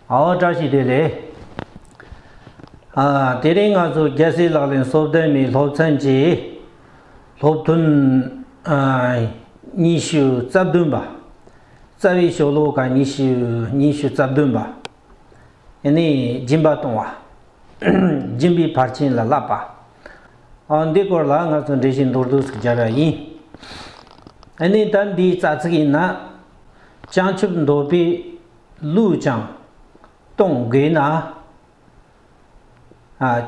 ཨའོ་བཀྲ་ཤིས་བདེ་ལེགས། དེ་རིང་ང་ཚོ་རྒྱལ་སྲས་ལག་ལེན་གསོལ་བསྟོད་མའི་སློབ་ཚན་གྱི་སློབ་ཐུན་ཉི་ཤུ་རྩ་བདུན་པ། རྩ་བའི་ཤོ་ལོ་ཀ་ཉི་ཤུ་ཉི་ཤུ་རྩ་བདུན་པ། ནས་སྦྱིན་པ་གཏོང་བ། སྦྱིན་པའི་ཕར་ཕྱིན་ལ་བསླབ་པ། འདི་སྐོར་ལ་ང་ཚོ་འགྲེལ་བཤད་མདོར་བསྡུས་སུ་སྦྱར་བ་ཡིན། ནས་ད་འདིའི་རྩ་ཚིག་ཡིན་ན། བྱང་ཆུབ་འདོད་པའི་ལུས་ཀྱང་གཏོང་དགོས་ན།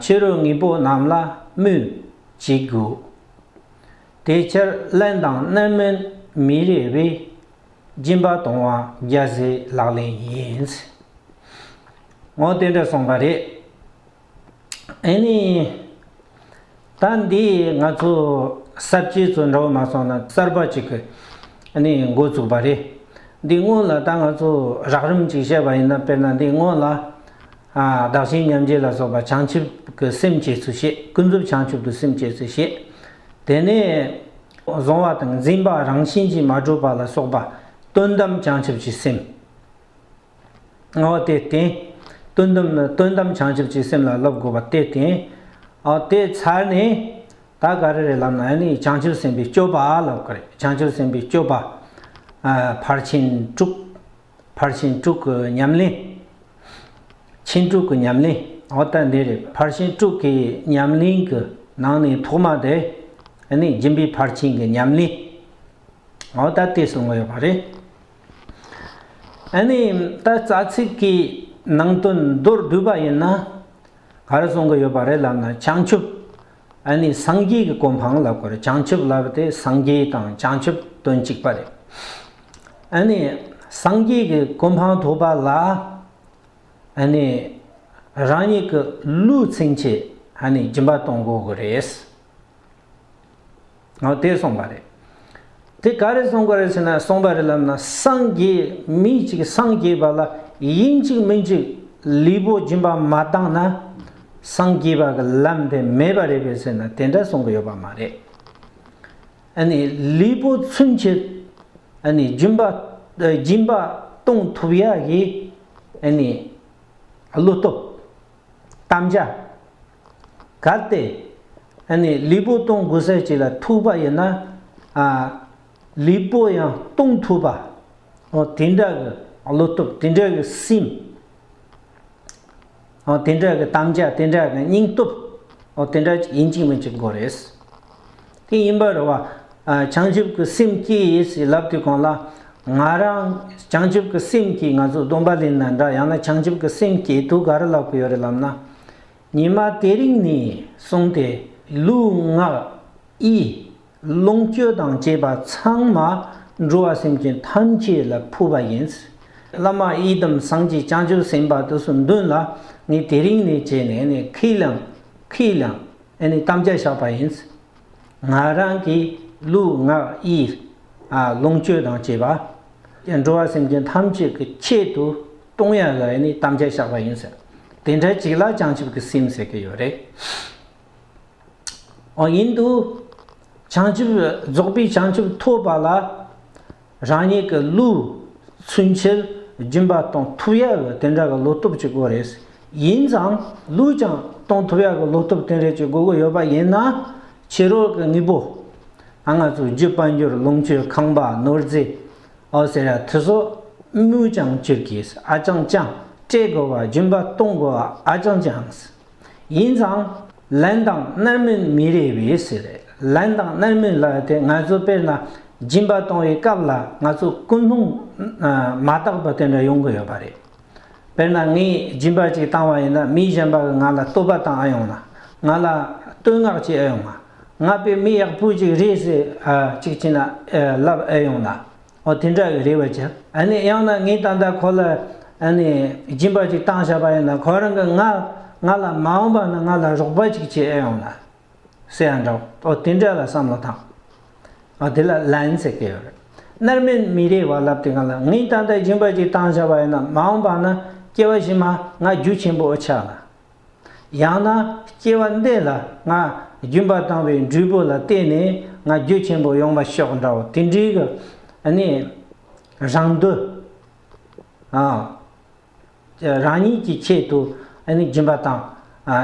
ཕྱི་རོལ་དངོས་པོ་རྣམས་ལ་སྨོས་ཅི་དགོས། དེ་ཕྱིར་བརླན་དང་རྣལ་སྨིན་མི་རེ་བས། སྦྱིན་པ་གཏོང་བ་རྒྱ་བཟའི་ལག་ལེན་ཡིན། ངོ་བསྟན་འགྲོ་གསུངས་པ་རེད། ཨཱ་ནི། ད་འདི་ང་ཚོ་གསར་བརྗེའི་ཚོ་འདྲ་བོ་མ་སོང་ན་གསར་པ་ཅིག་གི་ཨཱ་ནི་འགོ་བཙུགས་པ་རེད། འདི་སྔོན་ལ་ད་ང་ཚོ་རགས་རིམ་ཅིག་བཤད་པ་ཡིན་ན་དཔེར་ན་འདི་སྔོན་ལ། བདག་ཆེན་མཉམ་རྗེ་ལ་སོགས་པ་བྱང་ཆུབ་ཀྱི་སེམས་བསྐྱེད་ཚུལ་བཤད་ཀུན་རྫོབ་བྱང་ཆུབ་ཏུ་སེམས་བསྐྱེད་ཚུལ་བཤད། དེ་ནས་བཟུང་བ་དང་འཛིན་པ་རང་བཞིན་གྱིས་མ་གྲུབ་པ་ལ་སོགས་པ་དོན་དམ་བྱང་ཆུབ་ཀྱི་སེམས། ཨ་དེ་བརྟེན། དོན་དམ་དོན་དམ་བྱང་ཆུབ་ཀྱི་སེམས་ལ་སློབ་དགོས་པ་དེ་བརྟེན། ཨ་དེ་ཚར་ནས། ད་ག་རེ་རེ་ལབ་ན་ཡང་ནི་བྱང་ཆུབ་སེམས་དཔའི་སྤྱོད་པ་ལབ་གི་རེད་བྱང་ཆུབ་སེམས་དཔའི་སྤྱོད་པ། ཕར་ཕྱིན་དྲུག། ཕར་ཕྱིན་དྲུག་གི་ཉམས་ལེན། ཕྱིན་དྲུག་གི་ཉམས་ལེན་འོ་ད་འདི་རེད་ཕར་ཕྱིན་དྲུག་གི་ཉམས་ལེན་གྱི་ནང་ནས་ཐོག་མ་དེ། ནི་སྦྱིན་པའི་ཕར་ཕྱིན་གྱི་ཉམས་ལེན། འོ་ད་ལྟོས་སུ་ངོས་ཡོད་པ་རེད། ཨཱ་ནི། ད་རྩ་ཚིག་གི་ནང་དོན་མདོར་བསྡུས་པ་ཡིན་ན། ག་རེ་གསུང་གི་ཡོད་པ་རེད་ལབ་ན་བྱང་ཆུབ་ཨཱ་ནི་སངས་རྒྱས་ཀྱི་གོ་འཕང་ལབ་དགོས་རེད་བྱང་ཆུབ་ལབ་སྟེ་སངས་རྒྱས་དང་བྱང་ཆུབ་དོན་གཅིག་པ་རེད། ཨཱ་ནི། སངས་རྒྱས་ཀྱི་གོ་འཕང་ཐོབ་པ་ལ། ཨཱ་ནི། རང་ཉིད་ཀྱི་ལུས་ཚིམ་ཆེད་ཨཱ་ནི་སྦྱིན་པ་གཏོང་དགོས་དགོས་རེད། ངའོ་དེས་གསུངས་པ་རེད། དེ་ག་རེ་གསུངས་པ་རེད་ཟེར་ན་གསུངས་པ་རེད་ལབ་ན་སངས་རྒྱས་མི་གཅིག་སངས་རྒྱས་པ་ལ་ཡིན་གཅིག་མིན་གཅིག་ལུས་པོ་སྦྱིན་པ་མ་བཏང་ན་སངས་རྒྱས་པ་གི་ལམ་དེ་མེད་པ་རེད་པས་ཟེར་ན་དེ་འདྲ་གསུངས་གི་ཡོད་པ་མ་རེད། ཨ་ནི་ལུས་པོ་ཚུན་ཆད་ཨ་ནི་སྦྱིན་པ་སྦྱིན་པ་གཏོང་ཐུབ་ཡ་གི་ཨ་ནི་བློ་སྟོབས་དམ་བཅའ་གལ་ཏེ། ཨ་ནི་ལུས་པོ་སྟོང་དགུ་ཟེར་གྱི་ལ་ཐུག་པ་ཡིན་ན། ཨ། ལུས་པོ་ཡང་སྟོང་ཐུག་པ། ཨོ། དེ་འདྲ་གི་བློ་སྟོབས་དེ་འདྲ་གི་སེམས། ཨོ། དེ་འདྲ་གི་དམ་བཅའ་དེ་འདྲ་གི་སྙིང་སྟོབས། ཨོ། དེ་འདྲ་ཡིན་གྱི་མིན་གྱི་མགོ་རེད། དེ་ཡིན་པར་རེ་བ། བྱང་ཆུབ་ཀྱི་སེམས་སྐྱེ་ཡི་སི་ལབ་དུས་གང་ལ། ང་རང། བྱང་ཆུབ་ཀྱི་སེམས་ཀྱིས་ང་ཚོ་སྡོམ་པ་ལེན་ན་འདྲ་ཡང་ན་བྱང་ཆུབ་ཀྱི་སེམས་སྐྱེ་དུས་ག་རེ་ལབ་ཀྱི་ཡོད་རེད་ལབ་ན། ཉི་མ་དེ་རིང་ནས་བཟུང་སྟེ་ལུས་ངག་ཡིད་ལོངས་སྤྱོད་དང་བཅས་པ་ཚང་མ་འགྲོ་བ་སེམས་ཅན་ཐམས་ཅད་ལ་ཕུལ་བ་ཡིན། བླ་མ་ཡི་དམ་སངས་རྒྱས་བྱང་ཆུབ་སེམས་དཔའ་དུས་སུ་མདུན་ལ་ངས་དེ་རིང་ནས་བྱས་ནས་ནི་ཁས་བླངས་ཁས་བླངས་ནས་དམ་བཅའ་བཞག་པ་ཡིན། ང་རང་གི་ལུས་ངག་ཡིད་ལོངས་སྤྱོད་དང་བཅས་པ་འགྲོ་བ་སེམས་ཅན་ཐམས་ཅད་ཀྱི་ཆེད་དུ་ཀྲུང་དབྱང་གིས་ཨེ་ནི་གཏམ་འཆལ་བཤགས་པ་ཡིན་ཟེར། དེ་འདྲའི་གཅིག་ལ་བྱང་ཆུབ་ཀྱི་སེམས་ཟེར་གྱི་ཡོད་རེད། འོ་ཡིན་དུས། བྱང་ཆུབ་རྫོགས་པའི་བྱང་ཆུབ་ཐོབ་པ་ལ། རང་ཉིད་ཀྱི་ལུས། ཚུན་ཆད་རྒྱུན་པ་གཏོང་ཐུབ་ཡ་གི་དེ་འདྲ་གི་བློ་སྟོབས་ཅིག་དགོས་རེད། ཡིན་ཙང་ལུས་ཀྱང་གཏོང་ཐུབ་ཡ་གི་བློ་སྟོབས་དེ་འདྲ་ཅིག་དགོས་ཀྱི་ཡོད་པ་ཡིན་ན། ཕྱི་རོལ་གྱི་དངོས་པོ། ང་ཚོ་རྒྱུད་དཔལ་འབྱོར་ལོངས་སྤྱོད་ཁང་པ་ནོར་རྫས། ཨོ་ཟེར་ཡ་ཐུ་སོ་དམུས་ཀྱང་གཅོད་ཀྱིས་ཨ་ཅང་ཅང་བཀྲེས་དགོས་བ་རྒྱུན་པ་གཏོང་དགོས་བ་ཨ་ཅང་ཅང། ཡིན་ཙང། ལན་དང་རྣར་མོས་མི་རེ་བའི་སི་རེ་ལན་དང་རྣར་མོས་ལ་དེ་ང་ཚོ་དཔེར་ན་སྦྱིན་པ་གཏོང་བའི་སྐབས་ལ་ང་ཚོ་ཀུན་སློང་མ་དག་པ་དེ་འདྲ་ཡོང་གི་ཡོད་པ་རེད། དཔེར་ན་ངས་སྦྱིན་པ་ཅིག་བཏང་བ་ཡིན་ན་མི་གཞན་པ་གིས་ང་ལ་བསྟོད་པ་བཏང་ཨེ་ཡོང་ལ། ང་ལ་བསྟོད་བསྔགས་བྱེད་ཨེ་ཡོང་ལ། ང་དཔེ་མི་ཡག་པོ་ཅིག་རེད་ཟེར་ཅིག་བྱས་ན་ལབ་ཨེ་ཡོང་ལ། འོ་དེ་འདྲ་རེད་བ་ཅི། ཡང་ན་ངས་ད་ལྟ་ཁོ་ལ་སྦྱིན་པ་ཅིག་བཏང་བཞག་པ་ཡིན་ན་ཁོ་རང་གིས་ང་ལ་མ་འོངས་པ་ན་ང་ལ་རོགས་པ་ཅིག་བྱེད་ཨེ་ཡོང་ལ། སེ་ཡང་འདྲ། ཨོ་དེ་འདྲ་ལ་བསམ་བློ་བཏང། ཨོ་དེ་ལ་ལན་ཟེར་གི་ཡོད་རེད། མནར་མེད་མི་རེ་བ་ལབ་དེ་ག་ལ་ངའི་ད་ལྟ་སྦྱིན་པ་ཅིག་བཏང་བཞག་པ་ཡིན་ན་མ་འོངས་པ་ན་སྐྱེ་བ་བཞི་མ་ང་རྒྱུ་ཆེན་པོ་ཆགས་ན། ཡང་ན་སྐྱེ་བ་འདི་ལ་ང་སྦྱིན་པ་བཏང་བའི་འབྲུས་བུ་ལ་བརྟེན་ནས་ང་རྒྱུ་ཆེན་པོ་ཡོང་མ་ཤོག་འདྲ་བོ་དེ་འདྲའི་གི་ཨ་ནི་རང་འདོད། རང་ཉིད་ཀྱི་ཆེད་དུ་སྦྱིན་པ་དང།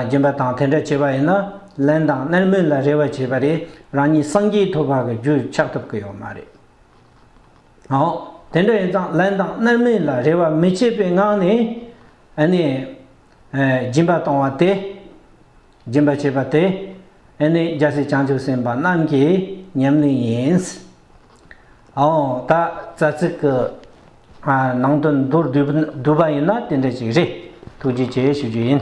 སྦྱིན་པ་དང་དེ་འདྲ་བྱས་པ་ཡིན་ན་ལན་དང་ལེན་སྨོན་ལ་རེ་བ་བྱས་པ་རེད་རང་ཉིད་སངས་རྒྱས་ཐོབ་པ་གི་རྒྱུ་ཆགས་ཐུབ་ཀྱི་ཡོད་མ་རེད། ཨོ། དེ་འདྲ་ཡིན་ཙང་ལན་དང་ལེན་སྨོན་ལ་རེ་བ་མི་བྱེད་པའི་ངང་ནས། སྦྱིན་པ་གཏོང་བ་དེ། སྦྱིན་པ་བྱེད་པ་དེ་ནི་རྒྱལ་སྲིད་བྱང་ཆུབ་སེམས་དཔའ་རྣམས་ཀྱི་ཉམས་ལེན་ཡིན། འོན་ཏེ་རྩ་ཚིག་གི་ནང་དོན་མདོར་བསྡུས་པ་ཡིན་ན་དེ་འདྲ་ཞིག་རེད་ཐུགས་རྗེ་ཆེ་ཞུ་རྒྱུ་ཡིན།